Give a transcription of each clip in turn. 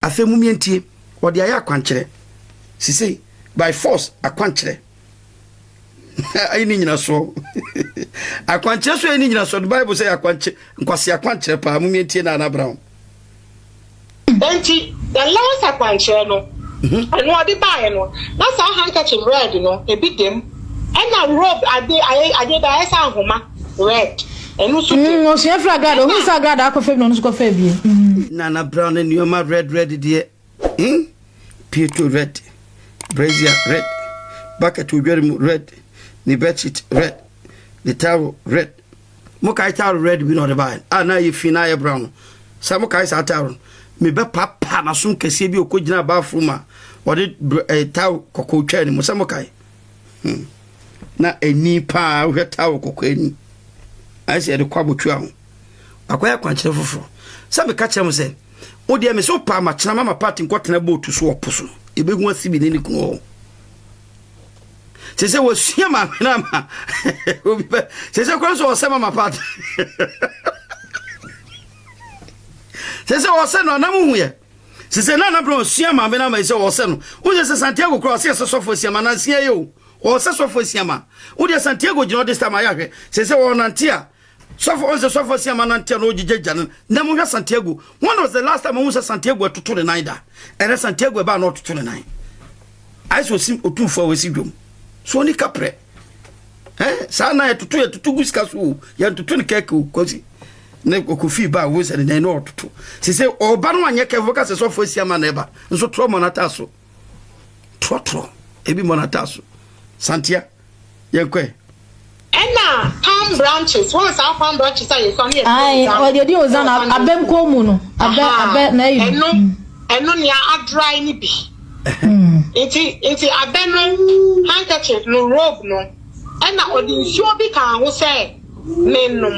afei mu mientie wɔde ayɛ akwankyerɛ sise by force akwankyerɛ ayi ne nyina soɔ akwankyerɛ so ayi ne nyina soɔ the bible sɛ akwankyerɛ nkwasi akwankyerɛ paa mu mientie na anabra ho. Enti, the less akwankyerɛ no, ɛno ɔde baeɛ no, na saa handkerchief red no, ebi dem. Ɛna robe ade, ayɛ, adeɛ bi a ayɛ sɛ ahoma, red, ɛno nso dem. Mm, ɔsua firi agradaa, ɔhunu sɛ agradaa akɔ fam na ɔno nso kɔ faa bie. Mm. Nana Brown ne nneɛma red red deɛ, hmm, Pietro red, brazier red, bucket odware mu red, ne bedsheet red, ne towel red. mokae taaro red bi na ɔde baeɛ a na ayɛ fi na ayɛ brown no sɛ mokae saa taaro no mebɛpapa n'aso nkɛseɛ bi ɔkɔgyina bathroom a ɔde eh, taaro kɔkɔɔ twaa ne mu sɛ mokae hmm. na ani paa wohwɛ taaro kɔkɔɔ ani ayɛ sɛ yɛde kɔ abɔtua ho akɔyɛ akwankyerɛ foforɔ sɛ meka kyerɛ mo sɛ wodeɛ me sɛ wopaa makyena ma ma part nkɔtena bootu so ɔpo so yɛbɛhu asi bi ne ne kunu hɔ sɛ sɛ wɔsua ma ahwene ama obi pɛ sɛ sɛ kora nso wɔsɛ mama pat sɛ sɛ wɔsɛ no anam huyɛ sɛ sɛ na anabena ɔsua ma mena ma sɛ wɔsɛ no wosɛ sɛ santiago kora ɔsɛ sɛ sɔfo asiama nanseɛ yɛ o ɔsɛ sɔfo asiama wodeɛ santiago gyina ɔde sta ma yɛahwɛ sɛ sɛ wɔnante a Sɔfo ɔn sɛ sɔfo asia ma nanteɛ na ɔgyegya agya no na mu hwɛ Santiago when was the last time ɔhu sɛ Santiago atutu ne nan da ɛnɛ Santiago ɛbaa na ɔtutu ne nan ayɛ sɛ ɔsi ɔtumfoɔ a wɔsi dwom so ɔni kaprɛ eh saa nan yɛtutu yɛtutu gu sika so o yɛntutu ne kɛkɛ o kɔsi ne ɔkɔfii ba a ɔhu sɛ ne nan na ɔtutu sɛ sɛ ɔba no anyɛ kɛfo ka sɛ sɔfo asia ma na ɛba nso torɔ mmɔ no ataa so torɔtorɔ ebi mmɔ no ataa so Santia Yɛn kɔ ɛ. Ɛna palm branches wɔn saa palm branches a yɛsua ne yɛde di ozan. Ayi yɛde ozan abɛ nkɔn mu no abɛ abɛ na ayi. Ɛno ɛno nea adry ne bi. Nti nti abɛ no handkerchief no robe no ɛna ɔde nsuo bi kaa ho sɛ. mennom.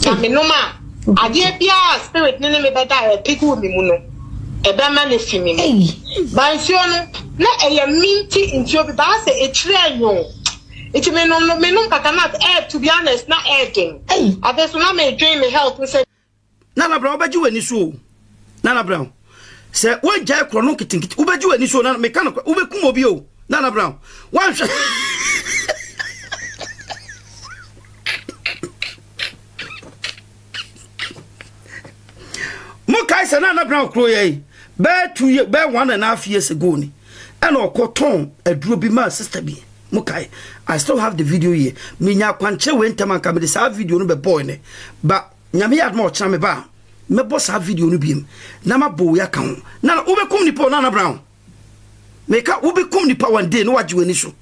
Na menom a, adeɛ biara a spirit no ne me bɛda a ɛrepege wɔ me mu no, ɛbɛma no afi me mu. Ba nsuo no, na ɛyɛ minty nsuo bi, baa sɛ akyire a nyoo. Nti menom no, menom kakra na ɛreto, to be honest, na ɛyɛ den. Afei nso na medwen me health ho sɛ. Nana Brown wobɛgye w'ani so o Nana Brown sɛ wongyae korɔ no nketenkete wobɛgye w'ani so na meka no wobɛkum obi o Nana Brown wanhwɛ mo kae sɛ Nana Brown kuro yɛ yi bɛɛ two year bɛɛ one and a half years ago ni ɛna ɔkɔ tɔn aduro bi maa sister bi mo kae I still have the video here menya akwankyerɛ wei ntɛm anka mede saa video no bɛbɔɔ ne ba nyame yɛ adoma ɔkyena me ba a mɛbɔ saa video no biem na mabɔ wei aka ho na wobɛkum nipa o na na brown meka wobɛkum nipa one day na wagye w'ani so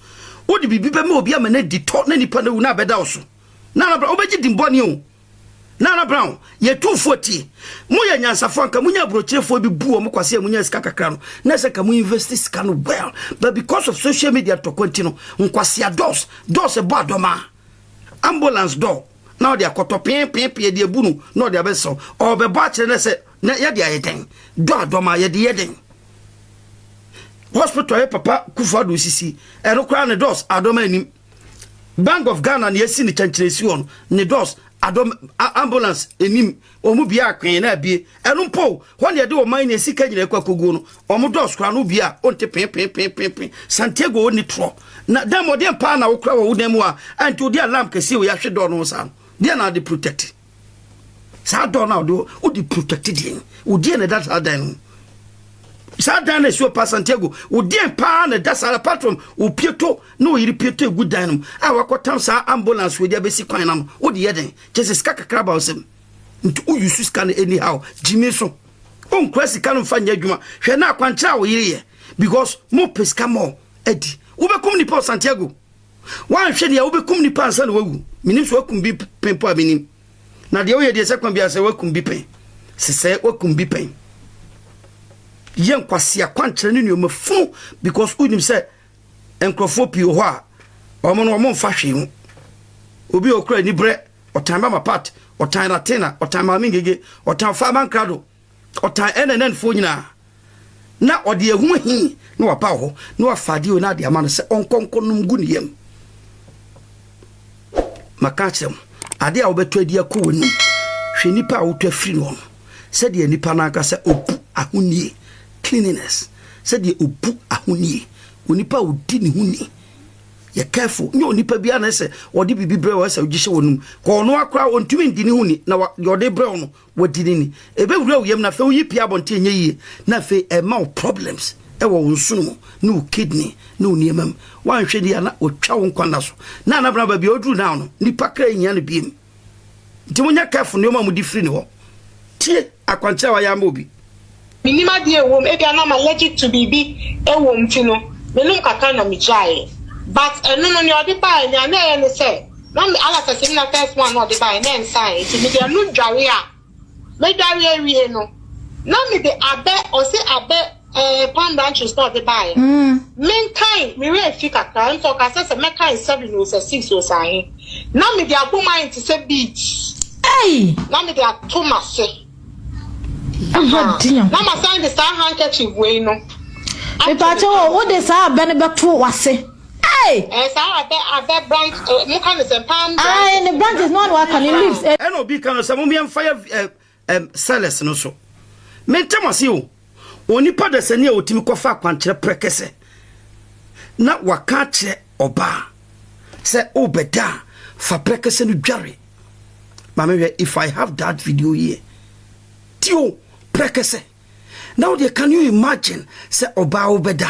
wode biribi bɛma obi ama no adi tɔ na nipa no awu na abɛda wo so na na brown wobɛgye dimbɔne o Nana Brown, yɛtu fo atie. Moyɛ nyansafoɔ, anka monya aburokyerefoɔ bi bu wɔn kwasea a monya sika kakra no, na ɛsɛ ka mo investi sika no well. But because of social media ntɔkwa nti no, nkwasea dɔs, dɔs ɛbɔ adɔma, ambulance dɔ, na ɔde akɔtɔ pee pee pee de abu no, na ɔde abɛsaw. Ɔbɛbɔ akyerɛ na sɛ na yɛde ayɛ dɛn? Dɔ adɔma, yɛde yɛ dɛn? Hospital yɛ papa Kufuor Addo sisi, ɛno koraa ne dɔs adɔma anim. Bank of Ghana na esi ne kyɛnkyerɛsi hɔ no, ne doors, adɔ ambulance anim, wɔn bia akwen na abie. Ɛno mpo, hɔ na yɛde ɔman ne sika nyinaa kɔ akoguo no. Wɔn doors koraa no bia ɔnte penpenpenpenpen. Santiago ɔnni torɔ. Na dan mmɔden paa na wokora wɔ wo dan mu a, ɛnti wode alarm kɛseɛ wei ahwe dɔɔ no ho saa no. Deɛ na ade protect. saa dɔɔ no a ɔde wode protect deɛ no wodeɛ na ɛda saa dan no saa dan no ɛsuo pa santiago wodeɛ paa na ɛda saa patrom wopieto na ɔyere pieto ɛgu dan no a wakɔtam saa ambulance wei de abɛsi kwan no ano wode yɛ den kyɛ sɛ sika kakra ba wo sɛm nti woyi so sika no anyhow gyimi so wonkura sika no mfa nyɛ adwuma hwɛ na akwankyerɛ a woyere yɛ because mo pɛ sika mɔ adi wobɛkum nipa santiago Woanhwɛ deɛ wobɛkum nipa ansa na wawu. Menim sɛ wakum bi pɛn mpo a menim. Na deɛ woyɛ deɛ sɛ kwan biara sɛ wakum bi pɛn. Sesɛ wakum bi pɛn. Yɛ nkwasea kwankyerɛ ne nneɛma funu because wonim sɛ nkurɔfoɔ pii wɔ hɔ a wɔn no wɔn mfa hwee ho. Obi a okura anibrɛ ɔtan mama pat ɔtan latena ɔtan maame ngege ɔtan faama nkrado Ɔtan Anananfoɔ nyinaa, na ɔde ehu he na waba hɔ, na wafa adeɛ wei na ade ama no sɛ ɔnkɔ nkɔ nom gu ne yam. Maka akyerɛ mo, adeɛ a wobɛtɔ adi akɔ w'anum, hwɛ nnipa a wotɔ afiri no no, sɛdeɛ nnipa no ankasa obu ahonie, cleanliness, sɛdeɛ obu ahonie, onipa a odi ne ho ni, yɛ careful, nyɛ onipa biara na ɛsɛ ɔde biribi brɛ wo ɛsɛ wogye hyɛ w'anum, kɔ ɔno akora ɔntumi ndi ne ho ni, na deɛ ɔde brɛ wo no, Wadi no ni. Ɛbɛwura wo yam na afei woyi pia abɔnten a ɛnyɛ yie na afei ɛma wo problems wɔ wo nsono mu ne wo kidney ne wo nneɛma mu. Woanhwɛ no yie a na wɔtwa wo nkwa nna so. Na Nana Bena baabi a ɔduru now no, nnipa kra nhia no biom. Nti monyɛ careful nneɛma a mode firi ne hɔ. Tie akwankyerɛ a wayɛ ama obi. Minnim adeɛ a ɛwɔ mu, ebia na m'allergic to biribi wɔ mu nti no, menom kakra na megyaeɛ. But ɛno no, nea ɔde baeɛ, nea na ɛyɛ ne sɛ, na me ulcers no na first one na ɔde baeɛ na ɛnsaeɛ nti mede ɛno dware a, medware awie no, na mede abɛ, ɔse abɛ eh, palm branches na ɔde baeɛ. Menkae, me werɛ fi kakra, ɛnso ɔka sɛ sɛ mɛkae seven o, sɛ six o, sɛ ahe. Na mede abom ayɛ te sɛ beads, na mede ato m'ase. Na masan de saa handkerchief wei no. Mepaakyɛ wɔ wo de saa abɛ no bɛto wase. Hey! Eh, saa abɛ abɛ branch, eh, mo ka ne sɛ palm branch. Ah, ne branches no ano aka ne leaves. Eh. Ɛna obi ka no sɛ mo mmea mfa yɛ eh eh sellers no so. Mente mo ase o. Onipa dasani a otumi kɔfa akwankyerɛ prɛkɛsɛ na waka akyerɛ ɔbaa sɛ wobɛda a fa prɛkɛsɛ no dware. Maame hwɛ if I have that video here. Tio prɛkɛsɛ. Now deɛ can you imagine sɛ ɔbaa wobɛda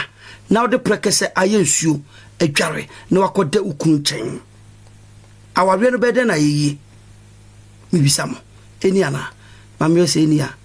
na wode prɛkɛsɛ ayɛ nsuo adware na wakɔda wo kunu nkyɛn. Awareɛ no bɛyɛ dɛn na ayɛ yie? Mebisa mo, ɛni anaa? Maame hwɛ sɛ ɛni a.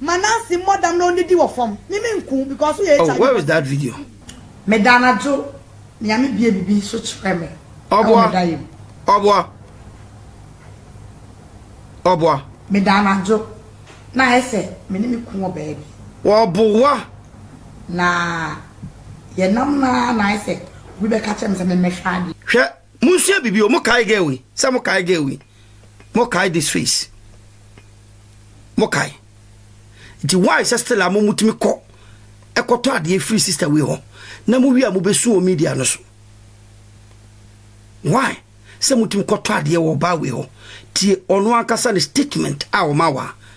Ma Nancy mmɔ dam na ɔnnidi wɔ fam. Me me nku because woyɛ HIV positive. Oh where is that video? Meda anadwo Nyame bue bibi so kyerɛ me ɛwɔ me da yɛ mu. Ɔboa ɔboa ɔboa. Meda anadwo na ayɛ sɛ me ne me kun wɔ baabi. Ɔboa. Na yɛ nam no ara na ayɛ sɛ obi bɛka kyerɛ me sɛ me mmɛhwɛ adeɛ. Hwɛ Monsua biribi o, mokae girl yi, sɛ mokae girl yi, mokae this face, mokae. Nti why sɛ still a mo motumi kɔ ɛkɔtɔ adeɛ firi sister wei hɔ na mo wie a mobɛsu wɔ media no so? Why sɛ motumi kɔtɔ adeɛ wɔ ɔbaa wei hɔ? Tie ɔno ankasa ne statement a ɔma wɔ a,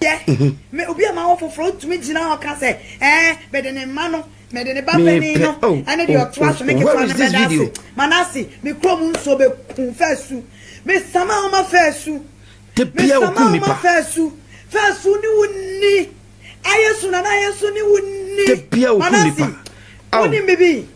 yɛ me obi a m'awɔ foforɔ ɔtumi gyina hɔ ka sɛ ɛɛ mede ne mma no mede ne ba panin no oh, ɛne deɛ oh, ɔtoa oh, so ne ketewa no bɛda ase manase me kurom nsuo bɛku fɛsu mesama woma fɛsu mesama woma fɛsu fɛsu ne wo ni ayɛ so nana ayɛ so ne wo ni manase wonim bibi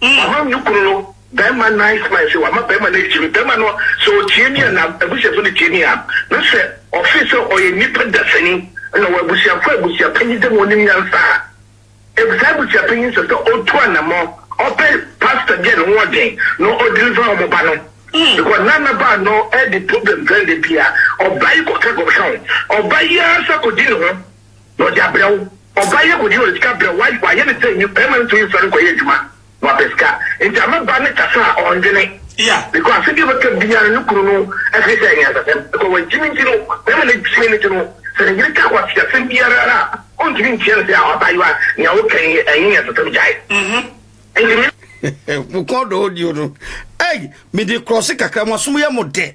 Maham ne kunu no barima nice mind sɛ wama barima no adi kyerɛ me. Barima no sɛ ɔtie me a na abusuafo no tie me a na sɛ ɔfee sɛ ɔyɛ nipa dasani na ɔwɔ abusuafo a abusua panyin dɛ ma ɔnim nyansa a ɛb saa abusua panyin sɛ sɛ ɔtu anamɔ ɔpɛ pastor bi a ne ho ɔden na ɔ deliver ɔmo ba no because na na ba no ɛde problem bɛn da bi a ɔba yi kɔka kɔka ho ɔba yi ara sa kɔdi ne ho na ɔde abrɛ wo. Ɔbaa yi agodie na ɔde sika brɛ wo, wayɛ no sɛ nyi, barima no ntumi nsɔre nkɔyɛ adwuma na wapɛ sika, nti ama ba no kasa a ɔndwene, because asɛm bi a ɔbɛka biara no ne kunu no hwɛ sɛ ɛyɛ nyansasɛm, because wagyimi nti no, barima no gyimi no nti no, sɛ ne yere ka kwaseasɛm biara a, ɔntumi ntia no sɛ ah abaayewa nea woka yi ɛnyɛ nyansasɛm gyae. Nti me. Mokɔ do audio no. Ei! Mede krɔse kakra, mo asom yɛ mo dɛ.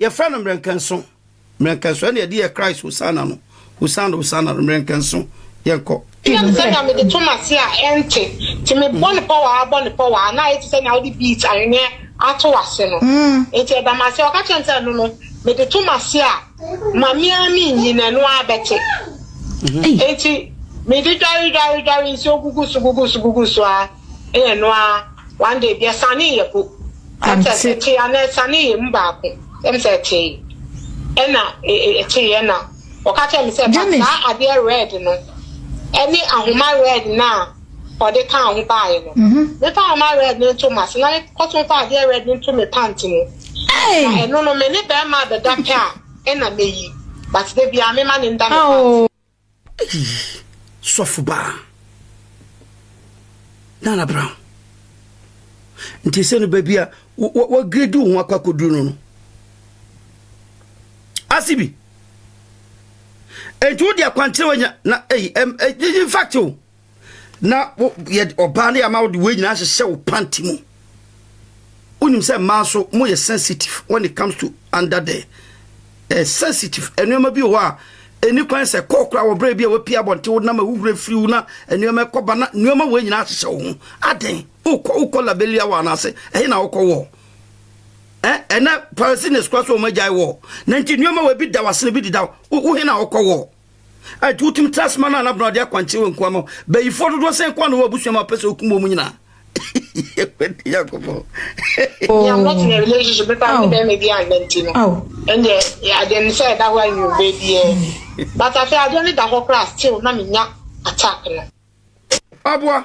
Yɛfrɛ no mmerɛnkɛnso, mmerɛnkɛnso, ɛnna yɛde yɛ Christ Hosanna no, Hosanna, Hosanna no, mmerɛnkɛnso, yɛnkɔ. Ɛyɛ me sɛ nea mede to m'ase a ɛnte, nti mebɔ no pɔwaa bɔ no pɔwaa, na ayɛ te sɛ nea wode beat ahweneɛ ato w'ase no, nti ɛda m'ase. Ɔka kyerɛɛ me sɛ, Ɛno no, mede to m'ase a, ma me ara menyi, na ɛno ara bɛte. Enti mede dware, dware, dware, nsuo gugu so, gugu so, gugu so ara. Ɛyɛ no ara one day bi ɛsanee yɛ po ɛm sɛ ɛtee anaa ɛsanee yɛ mu baako ɛm sɛ ɛtee ɛna ɛtee ɛna ɔka kyerɛ me sɛ ba saa adeɛ red no ɛne ahoma red no a ɔde kaa ho baeɛ no mefa ahoma red no nto m'ase na mekɔ so mfa adeɛ red no nto me pant mu na ɛno no me ne bɛrima abɛda pɛ a ɛna meyi but da biara mema no nda me pant mu. Eii sɔfo baa Nana Brown nti sɛ no baabi a wɔgredi wo ho akɔ akɔduru no no ase bi nti wode akwankyerɛ wanya na eyi ɛyi fact o. na wo yɛ ɔbaa ne ama wode wei nyinaa hyehyɛ wo panty mu wonim sɛ mmaa nso moyɛ sensitive when it comes to under the eh, sensitive nneɛma bi wɔ hɔ a ɛni kwan sɛ kɔɔ koraa wɔ berɛ bi a wapie abɔnte wo nam ahuhura firi wo na nneɛma ɛkɔba na nneɛma wei nyinaa hyehyɛ wo ho adɛn wokɔ wokɔ labelia wɔ anaase ɛhe na wokɔ wɔ ɛnɛ palestines kora so ɔma gyae wɔ na nti nneɛma wɔ bi da wase no bi deda wo he na wokɔ wɔ Enti wotumi tra ase ma no anabena ɔde akwankyerɛ wɔ nkoa ma bayifoɔ dodoɔ sɛn koa na wɔ abusua ma ɔpɛ sɛ ɔkum wɔn nyinaa ɛkwɛde yakɔbɔ yɛammɛtena relationship pepa ne bɛrima bi anna nti no ɛndeɛ adeɛ no sɛ ɛda hɔ a nwummerɛ biaa ni but afei adeɛ no da hɔ koraa still na menya attack no aboa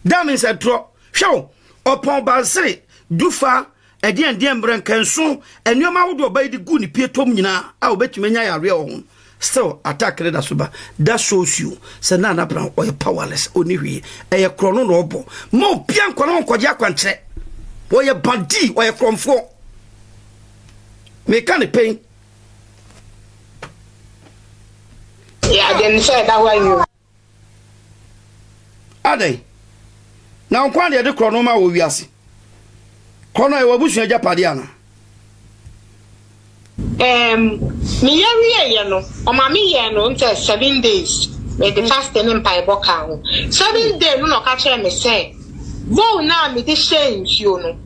Daa me nsɛ torɔ. Hwɛ o, ɔpɔn bansere, dufa, ɛdeɛndeɛn, mmerɛnka, nso, nneɛma ahodoɔ ɔbaa yi de guu ne pie tɔm nyinaa a ɔbɛtumi anya yareɛ wɔ ho no, still attack no da so ba. That shows you sɛ Nana Abena ɔyɛ powerless, ɔnni hwee. Ɛyɛ korɔ no na ɔbɔ. Mma obiara nkɔ ne ho nkɔgye akwankyerɛ. Ɔyɛ badii, ɔyɛ korɔmfoɔ. Meka ne pɛn. Yɛ adeɛ no sɛ ɛda hɔ ayɛ o. Adɛn? Na nkwa na yɛde korɔno ma wɔ wiase. Korɔno a ɛwɔ abusua agyapadeɛ anaa? Ɛɛm, meyɛ wieeɛ no, ɔma meyɛɛ no ntɛ seven days, mede fasting ne mpaebɔ kaa ho. Seventh day no na ɔka kyerɛɛ me sɛ, bowl no a mede hyɛɛ nsuo no,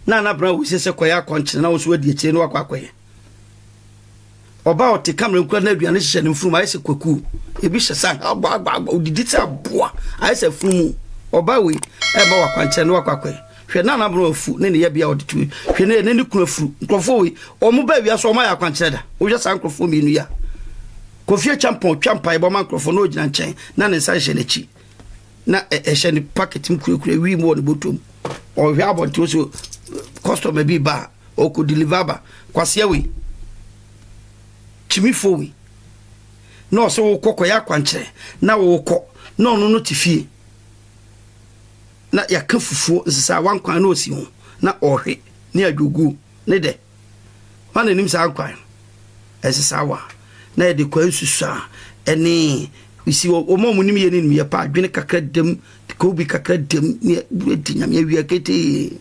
Na Nana Brown woo sɛ sɛ kɔyɛ akɔnkyene na wo nso woadi akyire na woakɔ akɔyɛ. Ɔbaa a ɔte kamera nkura n'aduane hyehyɛ ne mfurum ayɛ sɛ kwakuo. Ebi hyɛ sɛ agbaagbaagba odidi sɛ aboa ayɛ sɛ afunumu. Ɔbaa wei ɛrema wɔ akwankyerɛ na wakɔ akɔɛ. Hwɛ na n'abrɛ afu ne ne yɛbea ɔde tu hwɛ ne ne ne kunu afuru. Nkurɔfoɔ wei wɔn baa wia so wɔn ayɛ akwankyerɛ da. Wohwɛ saa nkurɔfoɔ mmienu yi a Kofi Acheampong twa mpaebɔ ma nkurɔfoɔ na ɔgyina nkyɛn na ne nsa hyɛ n'akyi na ɛhyɛ ne packet mu kurakura wiem wɔ ne bɔtɔ mu. Ɔhwɛ abɔnten so kɔstɔma bi ba a Ɔkɔ deliver ba. Kwasia wei, kyimifoɔ wei, na ɔsɛ wokɔ kɔyɛ akwankyerɛ na wokɔ na ɔno no te fie na yɛka fufuo nsesaawa nkwan na ɔsi ho na ɔhwe ne adwoguo ne dɛ ma na anim saa nkwan no nsesaawa na yɛde kwan susaa ɛne si wɔn a wɔn nim yɛ ne nim yɛ pa adwene kakra dam kobi kakra dam ne ɛdi nyame awia ketee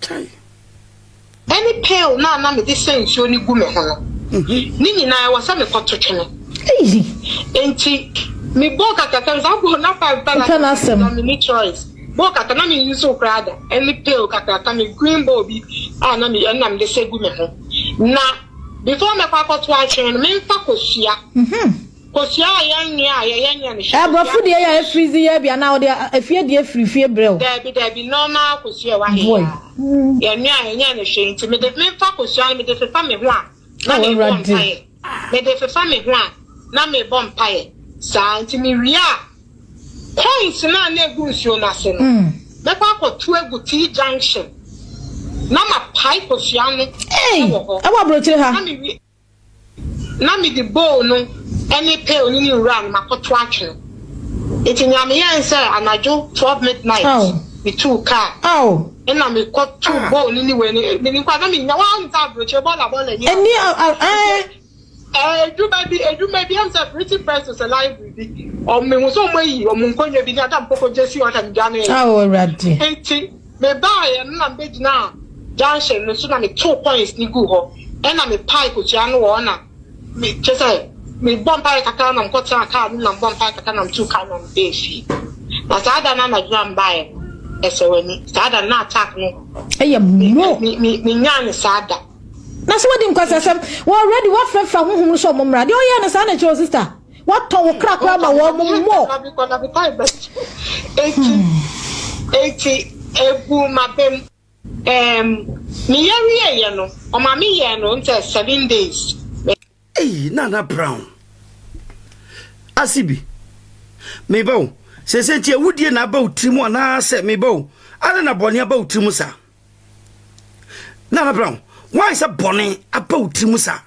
Kyai! Ɛne pail no a na mede sɛ nsuo no gu me ho no, ne nyinaa ɛwɔ sɛ mekɔto twene. Eii! Enti me bɔɔ kata sɛ saa bowl no five dollars na menya mini choice bowl kata na me use koraa da. Ɛne pail kakraka me green bowl bi a na me ɛno na mede sɛ gu me ho na before mɛkɔ akɔto atwene no memfa kɔsua. Kosuaa yɛn nua a yɛyɛ nea ne hwɛ. Aborɔfo deɛ yɛ efiri dzi yɛ bia na ɔde efie deɛ firi fie brɛ wo. Dabi dabi nɔɔma kosua wɔ ha yi aa yɛn nua a yɛnyɛ ne hwee nti mede menfa kosua no mede fefa me ho a na me bɔ mpaeɛ mede fefa me ho a na me bɔ mpaeɛ saa nti me wie a coins no a na egu nsuo no ase no mɛkɔ akɔ tu agu T junction na ma pae kosua no ɛwɔ hɔ ɛwɔ abrokyire ha. na mede bowl no ne pail no ne nwura no makoto atwe no. Enti nea meyɛe ne sɛ anadwo twelve midnight mituu kaa na mekɔtoo bowl no ne wei no. Ɛɛ, menim koraa na mennya, woahu sɛ aburokyire bɔɔla bɔɔla nni hɔ. Ɛnni a, ɛɛ. Ɛɛ, adwuma bi, adwuma bi, ɛm sɛ Printing Press to sɛ library bi, wɔn, mehu sɛ wɔayi wɔn nkonnwa bi ne ade a mekɔkɔgye sii hɔ na medwaneeɛ. Ao, Awurade. Enti. Mebaeɛ no na mebɛgyinaa junction no so na metoo coins no guu hɔ ɛna mepae kɔtua no wɔ hɔ na me kyerɛ sɛ mebɔ mpaeɛ kakra na mekɔtenaa kaa no mu na mebɔ mpaeɛ kakra na metuu kaa no na mebɛɛ fie na saa da no anadwo a mebaeɛ no ɛsɛ w'ani saa da no na attack no ɛyɛ mo menyaa ne saa da na sɛ wadi nkwasasɛm wɔ already wafrɛfrɛ honhom no sɛ ɔmo mmra deɛ ɔyɛɛ no saa na ɛkyerɛ o sister Wɔtɔ wo kra koraa ma wɔn mmɔ. Eti eti egu m'abam. Ɛɛm me yɛ wie yɛ no ɔma me yɛ no ntɛ seven days. Ei Nana Brown ase bi meba o sese nti awudie na aba wo tiri mu anaasɛ meba o adɛn na bɔne aba wo tiri mu saa. na mɛbrɛ wo wan sɛ bɔne aba wo tiri mu saa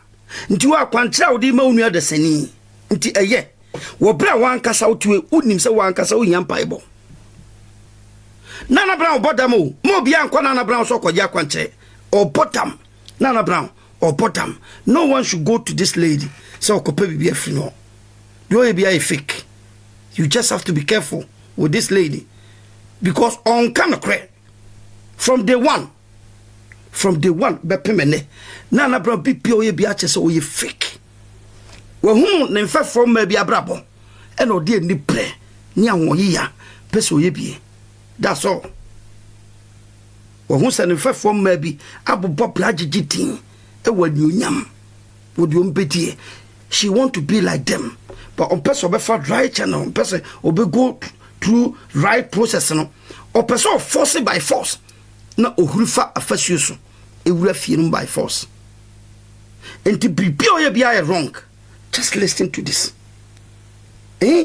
nti wɔ akwankyerɛ a wode ma wo nua dasani nti ɛyɛ wɔ berɛ a wankasa wotue wonim sɛ wankasa wohia mpaebɔ Nana Brown ɔbɔ dam o ma obiara nkɔ Nana Brown sɛ ɔkɔgye akwankyerɛ ɔbɔ dam Nana Brown ɔbɔ dam no one should go to this lady sɛ ɔkɔpɛ biribi afiri no deɛ ɔyɛ biara yɛ fake you just have to be careful with this lady because ɔnka nokorɛ from day one from day one bɛpem ɛnɛ na na bra bi bia ɔyɛ bi akyɛ sɛ ɔyɛ fake wɔhunu ne mfɛfoɔ mmaa bi abrabɔ ɛna ɔde ani brɛ ne ahoɔyeya pɛ sɛ ɔyɛ bie that's all wɔhu sɛ ne mfɛfoɔ mmaa bi abobɔ bra gyegye din ɛwɔ anuonyam wɔde ɔm bɛdie She want to be like them but ɔmpɛ sɛ ɔbɛfa right channel ɔmpɛ sɛ ɔbɛ go through right process no ɔpɛ sɛ ɔforce by force na ɔhuri fa afasuo so ɛwura fie no by force nti biribi a ɔyɛ biara yɛ wrong just listen to this eh?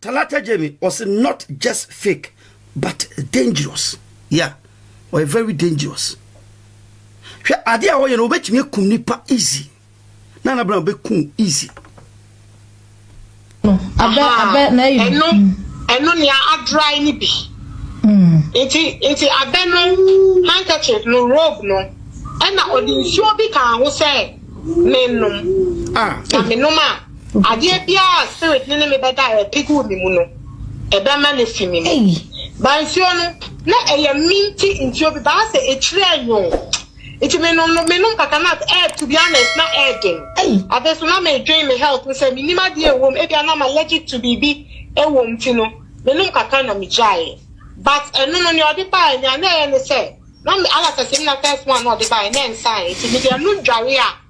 Talata Jamie ɔse not just fake but dangerous yeah ɔyɛ very dangerous hwɛ adeɛ a ɔyɛ no ɔbɛtumi akum nipa easy na na bɛn ɔbɛkum easy. Abɛ abɛ na eyi. Ɛno ɛno nea adry ne bi. Hmm. Nti nti abɛ no handkerchief no robe no ɛna ɔde nsuo bi kaa ho sɛ menom. Ah. Na menom a. Adeɛ biara a spirit no ne me bɛda a ɛpig wɔ me mu no, ɛbɛmane afi me mu. Ba nsuo no, na ɛyɛ minty nsuo bi, baa sɛ akyire ɛnwoo. Nti me nom no, me nom kakra na ɛɛ to be honest na ɛɛ den. Afei nso na me dwen me health ho sɛ me nim adeɛ a ɛwɔ mu, ebia na me allergic to biribi ɛwɔ mu nti no, me nom kakra na me gyaeɛ. But ɛno no, nea ɔde baeɛ, nea na ɛyɛ ne sɛ, na me alacers no na first one na ɔde baeɛ, na ɛnsaeɛ, nti me de ɛno dwareɛ a.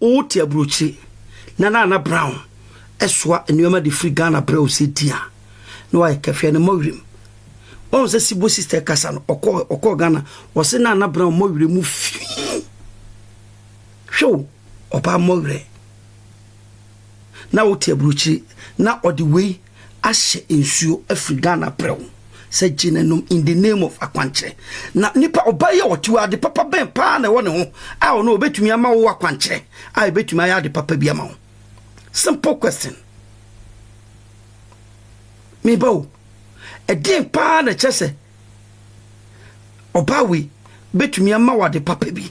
Wote aburokyire na Nana Brown soa nneɛma de firi Ghana brɛ wo sɛ di a, na wayɛ kɛfɛ no mmɔ werɛ mu. Woahu sɛ Sibo sista rekasa no, ɔkɔɔ ɔkɔɔ Ghana, wɔse Nana Brown mmɔ werɛ mu fii. Hwɛ o, ɔbaa mmɔ werɛ. Na wote aburokyire na ɔde wei ahyɛ nsuo afiri Ghana prɛw sɛ gye no nom in the name of akwankyerɛ. Na nipa ɔbaa yi a ɔte hɔ ade papa bɛn paa na ɛwɔ ne ho a ɔno ɔbɛtumi ama wo akwankyerɛ a ɛbɛtumi ayɛ ade papa bi ama wo? Simple question. Meba o, ɛdeɛn paa na ɛkyɛ sɛ ɔbaa wei bɛtumi ama wo ade papa bi?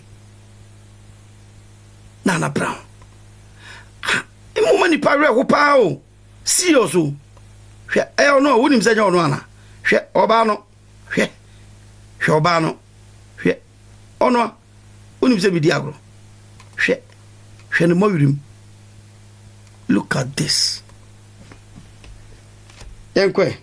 Nana Brown. Ah, mmoma nipa werɛ ho paa o. Serious o, hwɛ ɛyɛ ɔno a wonim sɛ ɛnyɛ ɔno ana? Hwɛ ɔbaa no, hwɛ, hwɛ ɔbaa no, hwɛ ɔno a wonim sɛ medi agorɔ, hwɛ, hwɛ ne mmɔwerem. Look at this. Yɛnkɔ ɛ.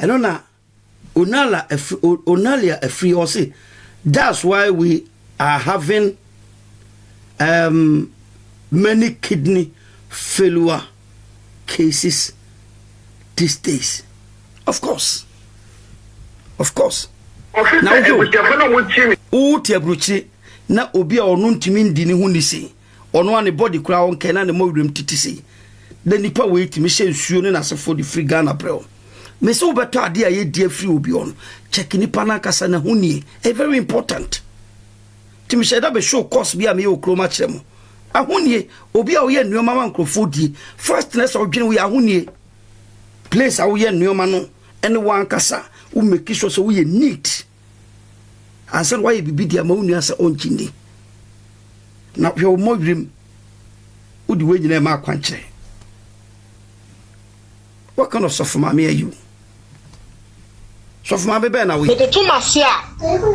Ɛno na Onala afiri o Onalia afiri ɔse that's why we are having um, many kidney failure cases these days. Of course. Of course. Ɔse sɛ abusuafo no a wɔtie ne. Wote aburokyire na obi a ɔno ntumi ndi ne ho ni se. Ɔno a ne body koraa ɔnkae na ne mɔ werɛm titi sei. Na nipa wei tumi hyɛ nsuo ne n'asefoɔ de firi Ghana brɛ wo. Me se wobɛtɔ adeɛ a yɛdi afiri obi hɔ no, check nipa no ankasa n'ahonie. Ɛyɛ very important. Nti me hyɛ da bɛ show course bi a meyɛ wɔ kurom akyerɛ mo. Ahonie, obi a woyɛ nnoɔma ma nkurɔfoɔ die, first na ɛsɛ wodwene wo yɛ ahonie. Place a woyɛ nnoɔma no ɛne wo ankasa, wo make sure sɛ woyɛ neat. ansa na woayɛ biribi de ama wo nua sɛ ɔnkyi nni. Na hwɛ wo mmɔ wirim, wode wei nyinaa ma akwankyerɛ. What kind of sɔfo maame are you? Sɔfo maame bɛn na woyɛ? Mede to m'ase a,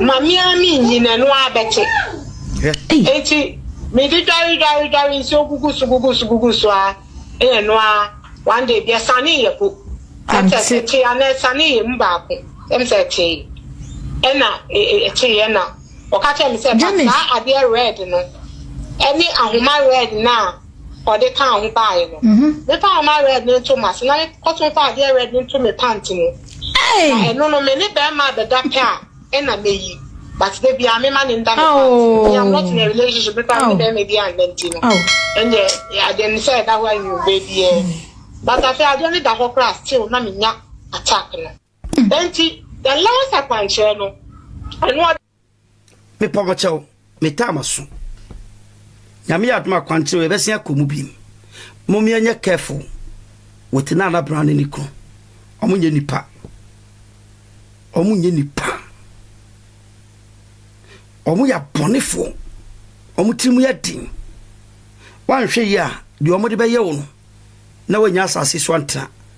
maame ara menyin, ɛno ara bɛte. Enti mede dware dware dware nsuo gugu so gugu so gugu so ara. Eyɛ no ara one day bi ɛsanee yɛ po ɛm sɛ ɛtee anaa ɛsanee yɛ mu baako ɛm sɛ ɛtee ɛna ɛtee yɛ na ɔka kyerɛ me sɛ ba saa adeɛ red no ɛne ahoma red no a ɔde kaa ho baeɛ no me fa ahoma red no nto m'ase na me kɔto fa adeɛ red no nto me pant mu na ɛno no me ne bɛrima bɛda pɛ a Ɛna meyi but da bia me ma ne nda me pants oh. me am not in a relationship me pa me bɛ me bia nda nti no ɛnyɛ adeɛ no sɛ ɛda hɔ a nwi bɛ bi yɛ but afei adeɛ no da hɔ koraa still na me nya attack no ɛnti the last akwankyerɛ no ɛno a mepɔ mo kyɛw Me taa maso. Nyame yɛ adom a kwankyerɛ yɛbɛsen akɔ mu bim. Mom yɛnyɛ careful with Nana Brown ne ne kunu. Ɔmo nyɛ nipa. Ɔmo nyɛ nipa. Ɔmo yɛ abɔnefo. Ɔmo tiri mu yɛ den. Wanhwɛ yie a deɛ ɔmo de bɛyɛ wo no na wanya asase so antena.